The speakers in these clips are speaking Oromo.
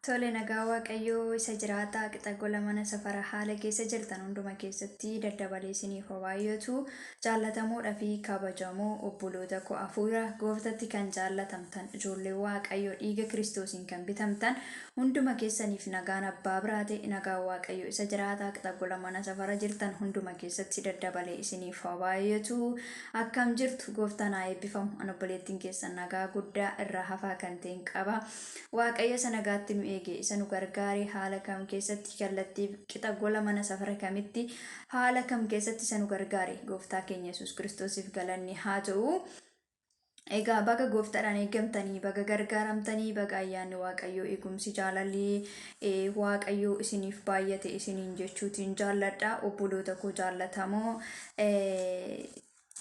Tole nagaa Waaqayyoo isa jiraataa qixa gola mana safara haala keessa jirtan hunduma keessatti daddabalee isiniif haa baay'atu jaallatamoodha fi kabajamoo obboloota koo hafuura gooftatti kan jaallatamtan ijoollee Waaqayyoo dhiiga kiristoosiin kan bitamtan hunduma keessaniif nagaan abbaa biraa ta'e nagaa Waaqayyoo isa jiraataa qixa gola mana safara jirtan hunduma keessatti daddabalee isiniif haa baay'atu Akkam jirtu gooftaan haa eebbifamu an obboleettiin keessan nagaa guddaa irraa hafaa kan ta'een qaba waaqayyo isa nagaatti nu eege isa nu gargaare haala kam keessatti kallattii qixa gola mana safara kamitti haala kam keessatti isa nu gargaare gooftaa keenya yesus kiristoosiif galanni haa ta'u Egaa baga gooftaadhaan eegamtanii, baga gargaaramtanii, baga ayyaanni Waaqayyoo eegumsi jaalalli Waaqayyoo isiniif baay'ate isiniin jechuutiin jaalladha. Obboloota koo jaallatamoo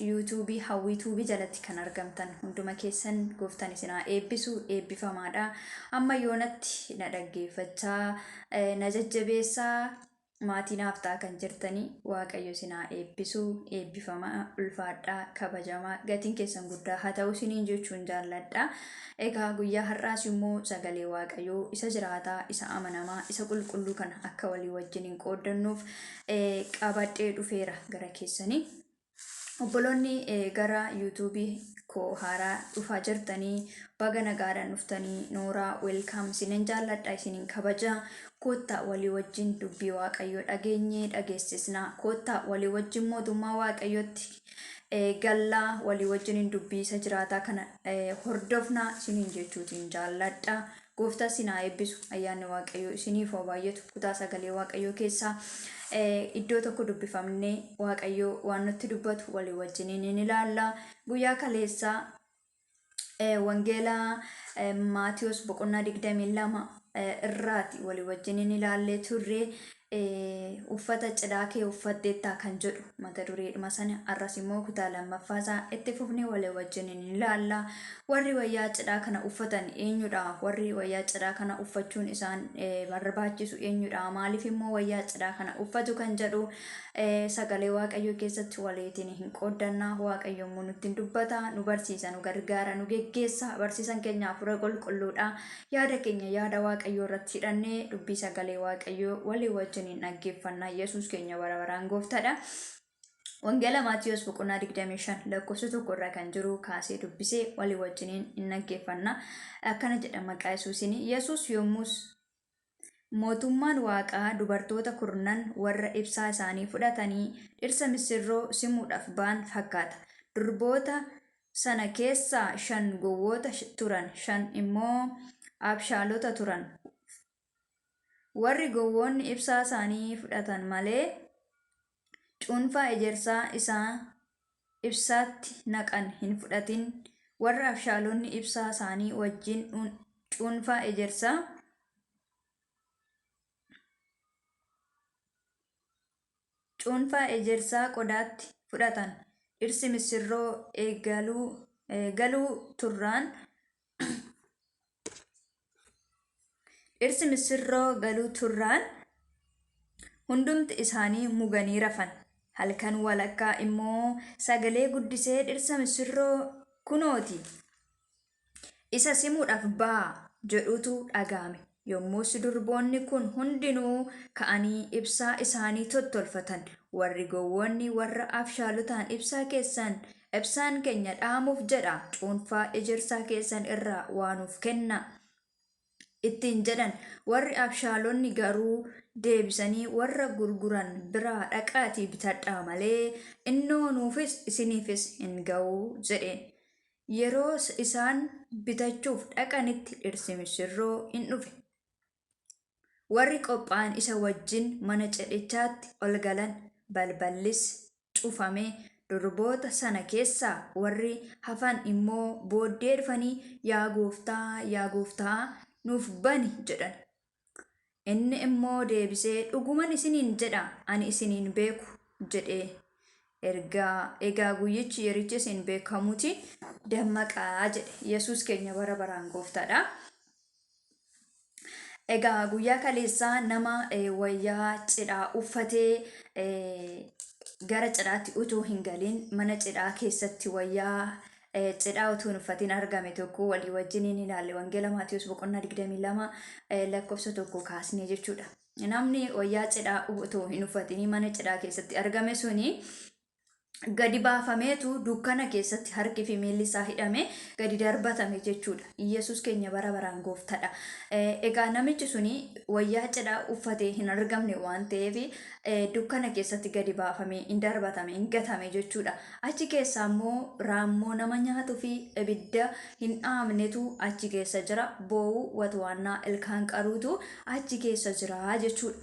yuutuubii hawwii tuubii jalatti kan argamtan hunduma keessan gooftan isinaa eebbisu eebbifamaadha. Amma yoonatti na dhaggeeffachaa na jajjabeessaa maatii naaf ta'a kan jirtanii waaqayyo isin haa eebbisu eebbifamaa ulfaadhaa kabajamaa gatiin keessan guddaa haa ta'u isiniin jechuun jaalladha. Egaa guyyaa har'aas immoo sagalee waaqayyoo isa jiraataa isa amanamaa isa qulqulluu kana akka walii wajjin hin qooddannuuf eh, qabadhee dhufeera gara keessanii. obboloonni eh, gara yuutuubii koo haaraa dhufaa jirtanii baga nagaadhaan dhuftanii nooraa welkaam isinin jaalladha isinin kabaja koottaa walii wajjin dubbii waaqayyoo dhageenyee dhageessisna koottaa walii wajjin mootummaa waaqayyootti eh, gallaa walii wajjin hin dubbiisa jiraataa kana eh, hordofna isinin jechuutiin jaalladha Gooftaan sin haa eebbisu. Ayyaanni Waaqayyoo isiniif haa baay'atu. Kutaa sagalee Waaqayyoo keessaa iddoo tokko dubbifamnee Waaqayyoo waan nutti dubbatu walii wajjiniin hin ilaalla. Guyyaa kaleessaa wangeela Maatiyoos boqonnaa 22 irraati walii wajjiniin ilaallee turre. Uffata cidhaa kee uffatteettaa kan jedhu mata dureedhuma sana arras immoo kutaa lammaffaa isaa itti fufnee walii wajjin ni ilaalla. Warri wayyaa cidhaa kana uffatan eenyudha? Warri wayyaa cidhaa kana uffachuun isaan eh, barbaachisu eenyudha? Maaliif immoo wayyaa cidhaa kana uffatu kan jedhu eh, sagalee Waaqayyoo keessatti waliitiin hin qooddanna. Waaqayyo immoo nutti hin dubbata, nu barsiisa, nu gargaara, nu geggeessa. Barsiisan keenya hafuura qulqulluudha. Yaada keenya yaada Waaqayyoo irratti hidhannee dubbii sagalee Waaqayyoo walii wajjin hin dhaggeeffanna. Yesuus keenya bara baraan gooftadha. Wangeela Maatiyoos boqonnaa 25 lakkoofsa tokko irraa kan jiru kaasee dubbisee walii wajjiniin hin dhaggeeffanna. Akkana jedha maqaa Yesuusiin. Yesuus yommus mootummaan Waaqaa dubartoota kurnan warra ibsaa isaanii fudhatanii dhirsa misirroo simuudhaaf ba'an fakkaata. Durboota sana keessaa shan gowwoota turan, shan immoo abshaalota turan. Warri gowwoonni ibsaa isaanii fudhatan malee, cuunfaa ejersaa isaa ibsaatti naqan hin fudhatin, warra abshaalonni ibsaa isaanii wajjin cuunfaa ejersaa. cuunfaa ejersaa qodaatti fudhatan. Dhirsi missirroo eegaluu, galuu turraan dhirsi missirroo galuu turraan hundumti isaanii muganii rafan. Halkan walakkaa immoo sagalee guddisee dhirsa missirroo kunooti! isa simuudhaaf ba'a jedhutu dhaga'ame. Yommus durboonni kun hundinuu ka'anii ibsaa isaanii tottolfatan. Warri gowwoonni warra abshaalotaan ibsaa keessan ibsaan keenya dhaamuuf jedha cuunfaa ejersaa keessan irraa waa nuuf kennaa. ittiin jedhan. Warri abshaalonni garuu deebisanii, Warra gurguran biraa dhaqaatii bitadhaa malee, innoo nuufis isiniifis hin ga'u jedheen. Yeroo isaan bitachuuf dhaqanitti dhirsi misirroo in dhufe. Warri qophaa'an isa wajjin mana cidhichaatti ol galan, balballis cufame, durboota sana keessaa warri hafan immoo booddee dhufanii, Yaa Gooftaa, yaa Gooftaa, nuuf bani! jedhan. Inni immoo deebisee, Dhuguman isiniin jedha, ani isin hin beeku jedhe. Ergaa, Egaa guyyichi, yerichi isin beekamuuti, dammaqaa jedhe. Yesuus keenya bara baraan Gooftaadha. Egaa guyyaa kaleessaa nama wayyaa cidhaa uffatee gara cidhaatti utuu hin galin mana cidhaa keessatti wayyaa cidhaa utuu hin uffatin argame tokko walii wajjin hin ilaalle wangeela Maatiyus boqonnaa 22 lakkoofsa tokko kaasnee jechuudha. Namni wayyaa cidhaa utuu hin uffatin mana cidhaa keessatti argame suni gadi baafameetu dukkana keessatti harki fi miilli isaa hidhamee gadi darbatame jechuudha. Iyyasuus keenya bara baraan gooftadha. Egaa namichi suni wayyaa cidhaa uffatee hin argamne waan ta'eef dukkana keessatti gadi baafamee hin darbatame hin gatame jechuudha. Achi keessaa immoo raammoo nama nyaatuu fi ibidda hin dhaamnetu achi keessa jira. Boo'uu watwaannaa ilkaan qaruutu achi keessa jira jechuudha.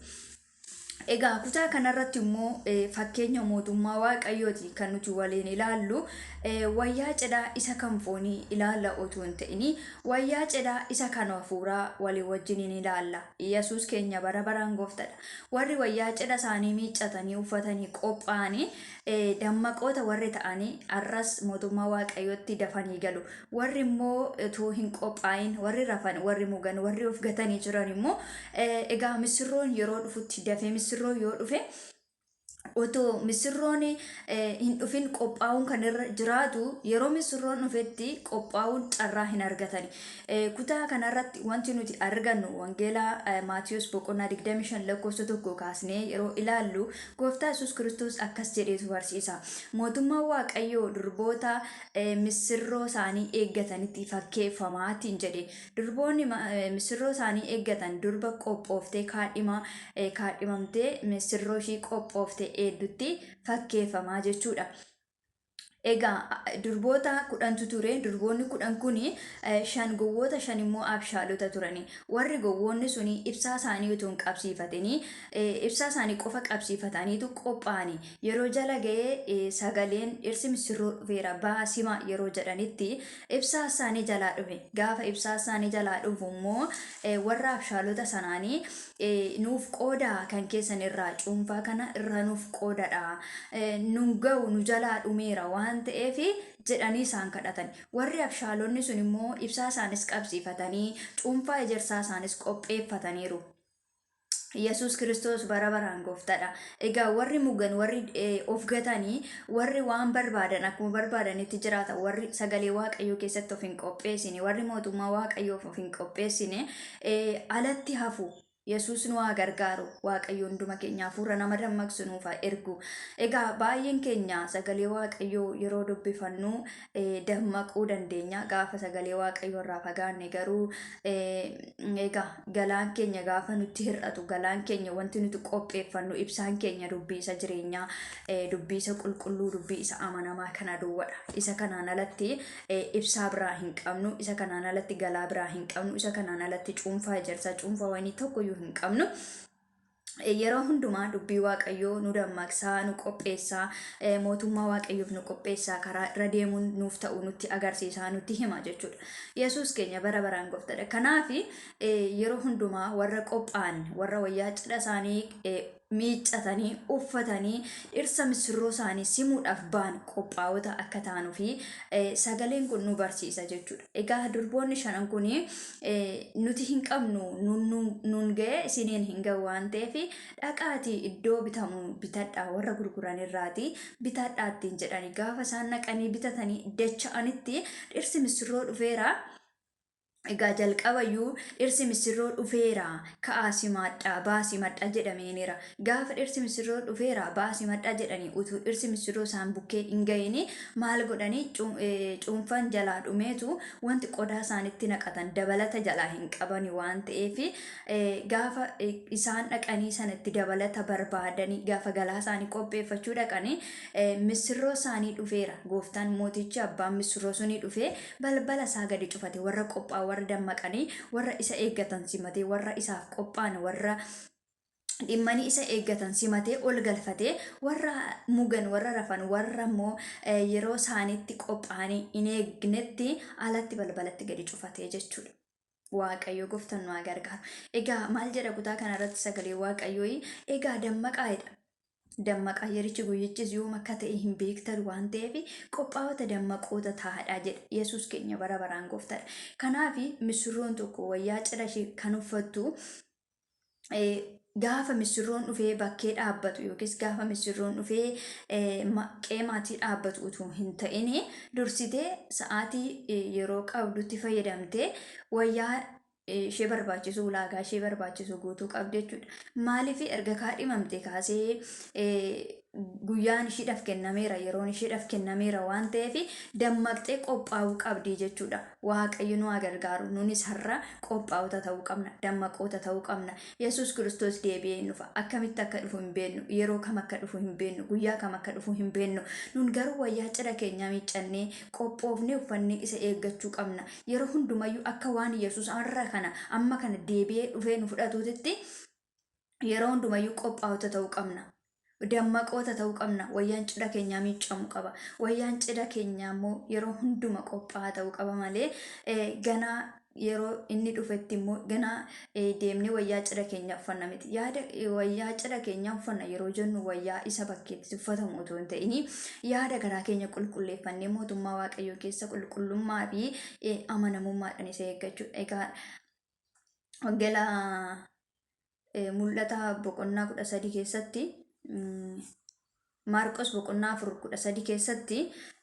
Egaa kutaa kanarratti immoo fakkeenya mootummaa waaqayyooti kan nuti waliin ilaallu wayyaa cidhaa isa kan foonii ilaalla otoo hin ta'in wayyaa cidhaa isa kan hafuuraa walii wajjin hin ilaalla. Yesuus keenya bara baraan gooftadha. Warri wayyaa cidha isaanii miiccatanii uffatanii qophaa'anii dammaqoota warri ta'anii har'as mootummaa waaqayyootti dafanii galu. Warri immoo utuu hin qophaa'in warri rafan warri mugan warri of gatanii jiran immoo egaa misirroon yeroo dhufutti dafee misirroo yoo dhufe otoo misirroon hin dhufin qophaa'uun kan irra jiraatu yeroo misirroon dhufetti qophaa'uun carraa hin argatani. Kutaa kanarratti wanti nuti argannu Wangeela Maatiyos boqonnaa 25 lakkoofsa tokko kaasnee yeroo ilaallu gooftaa Yesuus Kiristoos akkas jedheetu barsiisa. Mootummaan Waaqayyoo durboota missirroo isaanii eeggatanitti fakkeeffamaatiin jedhe. Durboonni missirroo isaanii eeggatan durba qophooftee kaadhimaa kaadhimamtee missirroo ishii qophooftee eeddutti fakkeeffamaa jechuudha. Egaa durboota kudhantu ture. Durboonni kudhan kun shan gowwoota shan immoo abshaalota turani. Warri gowwoonni sun ibsaa isaanii utuu hin qabsiifatini ibsaa isaanii qofa qabsiifataniitu qophaa'ani. Yeroo jala ga'ee sagaleen dhirsi misirroo dhufeera ba'aa sima yeroo jedhanitti ibsaa isaanii jalaa dhufe. Gaafa ibsaa isaanii jalaa dhufu immoo warra abshaalota sanaanii nuuf qooda kan keessan irraa cuunfaa kana irraa nuuf qoodadha nun ga'u nu jalaa dhumeera waan ta'eef jedhanii isaan kadhatan warri abshaalonni sun immoo ibsaa isaanis qabsiifatanii cuunfaa ejersaa isaanis qopheeffataniiru. Yesuus kiristoos bara baraan gooftadha. Egaa warri mugan warri of gatanii warri waan barbaadan akkuma barbaadanitti jiraatan warri sagalee waaqayyoo keessatti of hin qopheessine warri mootummaa waaqayyoof of hin qopheessine alatti hafu. Yesuus nu haa gargaaru. Waaqayyo hunduma keenya hafuura nama dammaqsu nuuf haa ergu. Egaa baay'een keenya sagalee Waaqayyoo yeroo dubbifannu dammaquu dandeenya. Gaafa sagalee Waaqayyoo irraa fagaanne garuu egaa galaan keenya gaafa nutti hir'atu galaan keenya wanti nuti qopheeffannu ibsaan keenya dubbii isa jireenyaa dubbii isa qulqulluu dubbii isa amanamaa kana duwwadha. Isa kanaan alatti ibsaa biraa hin qabnu, isa kanaan alatti galaa biraa hin qabnu, isa kanaan alatti cuunfaa ejersaa, cuunfaa wayinii tokkoyyuu hin qabnu. Yeroo hundumaa dubbii Waaqayyoo nu dammaqsaa, nu qopheessaa, mootummaa Waaqayyoof nu qopheessaa, karaa irra deemuun nuuf ta'u nutti agarsiisaa, nutti hima jechuudha. Yesuus keenya bara baraan gooftaadha. Kanaaf yeroo hundumaa warra qophaa'an, warra wayyaa cidha isaanii miiccatanii, uffatanii dhirsa misirroo isaanii simuudhaaf ba'an qophaa'ota akka taanuu fi sagaleen kun nu barsiisa jechuudha. Egaa durboonni shanan kun nuti hin qabnu nuun ga'ee isiniin hin ga'u waan ta'eef dhaqaatii iddoo bitamu bitadhaa warra gurguran irraati bitadhaa ittiin jedhani gaafa isaan naqanii bitatanii dacha'anitti dhirsi misirroo dhufeera. Egaa jalqabayyuu dhirsi missirroo dhufeera, ka'aa simaadhaa, ba'aa simadhaa jedhameeniira. Gaafa dhirsi missirroo dhufeera, ba'aa simadhaa jedhanii utuu dhirsi missirroo isaan bukkee hin ga'ini maal godhani cuunfan jalaa dhumeetu wanti qodaa isaanitti naqatan dabalata jalaa hin qabani waan ta'eef gaafa isaan dhaqanii sana itti dabalata barbaadanii gaafa galaa isaanii qopheeffachuu dhaqanii missirroo isaanii dhufeera. Gooftaan mootichi abbaan missirroo sunii dhufee Balbala isaa gadi cufate, warra qophaa'an, warra dammaqanii, warra isa eeggatan simatee, warra isaaf qophaa'an, warra dhimmanii isa eeggatan simatee ol galfatee, warra mugan, warra rafan, warra immoo eh, yeroo isaaniitti qophaa'anii hin eegnetti alatti balbalatti gadi cufatee jechuudha. Waaqayyo goftan nu haa gargaaru. Egaa maal jedha kutaa kana irratti sagalee waaqayyoo egaa dammaqaa jedha. Dammaqaa yerichi guyyichis yoom akka ta'e hin beektan waan ta'eef qophaawota dammaqoota taa'adhaa jedha. Yesuus keenya bara baraan goftadha. Kanaaf misirroon tokko wayyaa cidha ishee kan uffattu gaafa misirroon dhufee bakkee dhaabbatu yookiis gaafa misirroon dhufee qeemaatii dhaabbatu utuu hin ta'in dursitee sa'aatii yeroo qabdutti fayyadamtee wayyaa ishee barbaachisu ulaagaa ishee barbaachisu guutuu qabdi jechuudha. Maaliif erga kaadhimamte kaasee guyyaan ishiidhaaf kennameera, yeroon ishiidhaaf kennameera waan ta'eef dammaqxee qophaa'uu qabdi jechuudha. Waaqayyo nu haa gargaaru. Nunis har'a qophaa'ota ta'uu qabna, dammaqoota ta'uu qabna. Yesuus Kiristoos deebi'ee hin dhufa. Akkamitti akka dhufu hin beeknu, yeroo kam akka dhufu hin beeknu, guyyaa kam akka dhufu hin beeknu. Nun garuu wayyaa cidha keenyaa miiccannee, qophoofnee uffannee isa eeggachuu qabna. Yeroo hundumayyuu akka waan Yesuus har'a kana, amma kana deebi'ee dhufee nu fudhatuutitti yeroo hundumayyuu qophaa'ota ta'uu qabna. Dammaqoota ta'uu qabna. Wayyaan cidha keenyaa miiccamu qaba. Wayyaan cidha keenyaa immoo yeroo hunduma qophaa'aa ta'uu qaba malee ganaa yeroo inni dhufetti immoo ganaa deemnee wayyaa cidha keenyaa uffanna miti. Yaada wayyaa cidha keenyaa uffanna yeroo jennu wayyaa isa bakkeetti uffatamu otoo hin ta'in yaada garaa keenya qulqulleeffannee mootummaa Waaqayyoo keessa qulqullummaa fi amanamummaadhaan isa eeggachuudha. Egaa wangeela eh, mul'ata boqonnaa kudha sadii keessatti mm, maarqos boqonnaa afur kudha sadii keessatti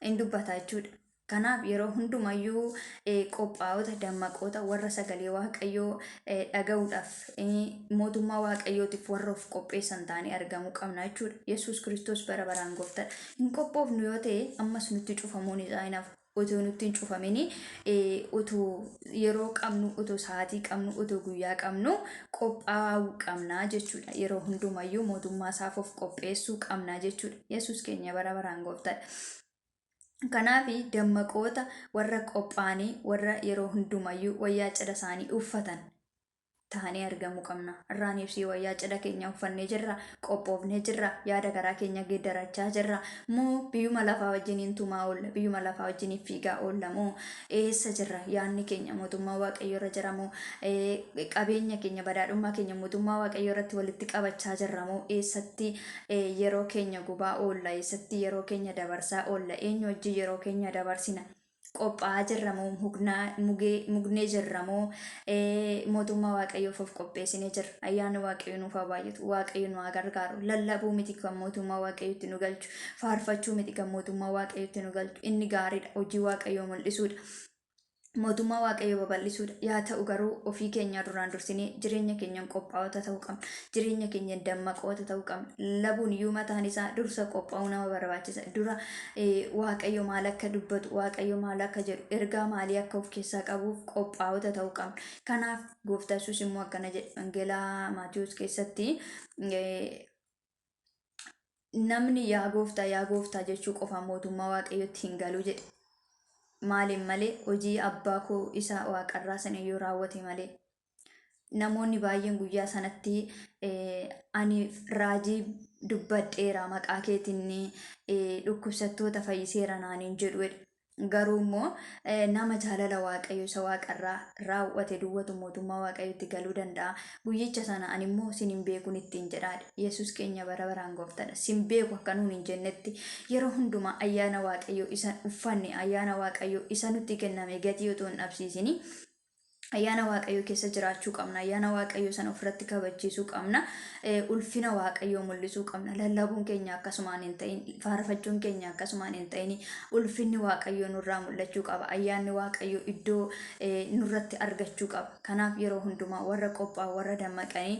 in dubbata jechuudha. Kanaaf yeroo hundumayyuu eh, qophaa'ota dammaqoota warra sagalee waaqayyoo eh, dhaga'uudhaaf eh, mootummaa waaqayyootiif warra of qopheessan ta'anii argamuu qabna jechuudha. Yesuus Kiristoos bara baraan gooftaadha. Hin qophoofnu yoo ta'e ammas nutti cufamuun isaa hin hafu. utuu nutti hin cufamin utuu yeroo qabnu utuu sa'aatii qabnu utuu guyyaa qabnu qophaa'uu qabna jechuudha yeroo hundumayyuu mootummaa isaaf of qopheessuu qabna jechuudha yesus keenya bara baraan gooftaadha. Kanaaf dammaqoota warra qophaa'anii warra yeroo hundumayyuu wayyaa cidha isaanii uffatan taanee argamuu qabna. Irraan ibsii wayyaa cidha keenya uffannee jirra, qophoofnee jirra, yaada garaa keenya geeddarachaa jirra. Moo biyyuma lafaa wajjiniin tumaa oolla, biyyuma lafaa wajjiniin fiigaa oolla moo eessa jirra? Yaadni keenya mootummaa Waaqayyoo irra jira moo eh, qabeenya keenya, badhaadhummaa keenya mootummaa Waaqayyoo irratti walitti qabachaa jirra moo eessatti eh, yeroo keenya gubaa oolla, eessatti yeroo keenya dabarsaa oolla, eenyu wajjin yeroo keenya dabarsina? qophaa'aa jirra moo mugnaa- mugee- mugnee jirra moo eh, mootummaa waaqayyoof of qopheessinee jirra ayyaanni waaqayyo nuuf haa baay'atu waaqayyo nu haa gargaaru lallabuu miti kan mootummaa waaqayyotti nu galchu faarfachuu miti kan mootummaa waaqayyotti nu galchu inni gaariidha hojii waaqayyoo mul'isuudha mootummaa waaqayyoo babal'isuudha yaa ta'u garuu ofii keenyaa duraan dursinee jireenya keenyaan qophaa'ota ta'uu qabna jireenya keenya dammaqoota ta'uu qabna. Labuun iyyuu mataan isaa dursa qophaa'uu nama barbaachisa. Dura Waaqayyo maal akka dubbatu, Waaqayyo maal akka jedhu, ergaa maalii akka of keessaa qabuuf qophaa'ota ta'uu qabna. Kanaaf gooftaa Yesuus immoo akkana jedhe Wangeelaa Maatiyoos keessatti namni yaa gooftaa yaa gooftaa jechuu qofa mootummaa Waaqayyotti hin galu jedhe. Maaliin malee hojii abbaa koo isa waaqarraa sana yoo raawwate malee namoonni baay'een guyyaa sanatti ani raajii dubbadheera maqaa keetiin dhukkubsattoota fayyiseera naaniin jedhu garuu immoo nama jaalala waaqayyo isa waaqarraa raawwate duwwatu mootummaa waaqayyotti galuu danda'a guyyicha sana ani immoo sin hin beekun ittiin jedhaadha yesus keenya bara baraan gooftadha sin beeku akka nuun hin jennetti yeroo hundumaa ayyaana waaqayyo isan uffanne ayyaana waaqayyo isa nutti kenname gatii otoo hin dhabsiisini Ayyaana Waaqayyoo keessa jiraachuu qabna. Ayyaana Waaqayyoo sana ofirratti kabachiisuu qabna. Ulfina Waaqayyoo mul'isuu qabna. Lallabuun keenya akkasumaan hin ta'in, faarfachuun keenya akkasumaan hin ta'in, ulfinni Waaqayyoo nurraa mul'achuu qaba. Ayyaanni Waaqayyoo iddoo nurratti argachuu qaba. Kanaaf yeroo hundumaa warra qophaa'an, warra dammaqanii,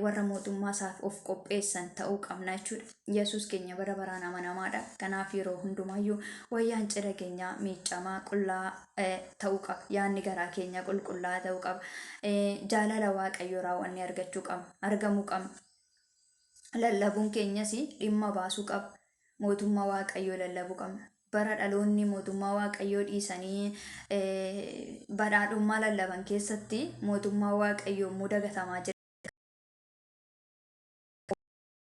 warra mootummaa isaaf of qopheessan ta'uu qabna jechuudha. Yesuus keenya bara baraan amanamaadha. Kanaaf yeroo hundumaayyuu wayyaan cidha keenyaa miiccamaa qullaa ta'uu qaba. Yaadni garaa keenyaa qulqullaa'aa ta'uu qaba. Jaalala Waaqayyoo raawwannee argachuu qabna. Argamuu qabna. Lallabuun keenyas dhimma baasuu qaba. Mootummaa Waaqayyoo lallabuu qabna. Bara dhaloonni mootummaa Waaqayyoo dhiisanii badhaadhummaa lallaban keessatti mootummaa Waaqayyoo immoo dagatamaa jira.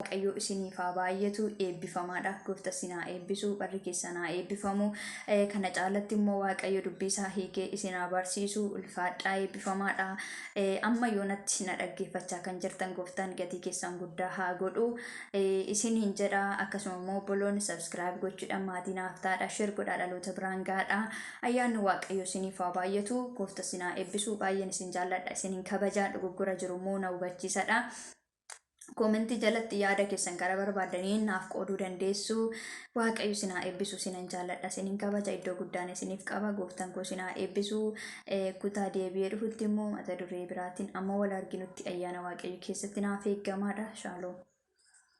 waaqayyoo isiniif haa baay'atu eebbifamaadha goofta isin haa eebbisu barri keessan haa eebbifamu Eh, kana caalatti immoo waaqayyo dubbii isaa hiikee isin haa barsiisu ulfaadhaa eebbifamaadha Eh, amma yoonatti na dhaggeeffachaa kan jirtan gooftaan gatii keessan guddaa haa godhu Eh, isin hin jedha akkasuma immoo obboloonni subscribe gochuudhaan maatii naaf taadha shir godhaa dhaloota biraan gaadha Ayyaanni waaqayyoo isiniif haa baay'atu goofta isin haa eebbisu baay'een isin jaalladha isin hin kabajaa dogoggora jiru immoo na hubachiisadha koomentii jalatti yaada keessan gara barbaadaniin naaf qooduu dandeessu waaqayyo isin haa eebbisu isinan jaalladha isin hin kabaja iddoo guddaan isiniif qaba gooftan koo isin haa eebbisu kutaa deebi'ee dhufutti immoo mata duree biraatiin amma wal arginutti ayyaana waaqayyo keessatti naaf eeggamaadha shaaloom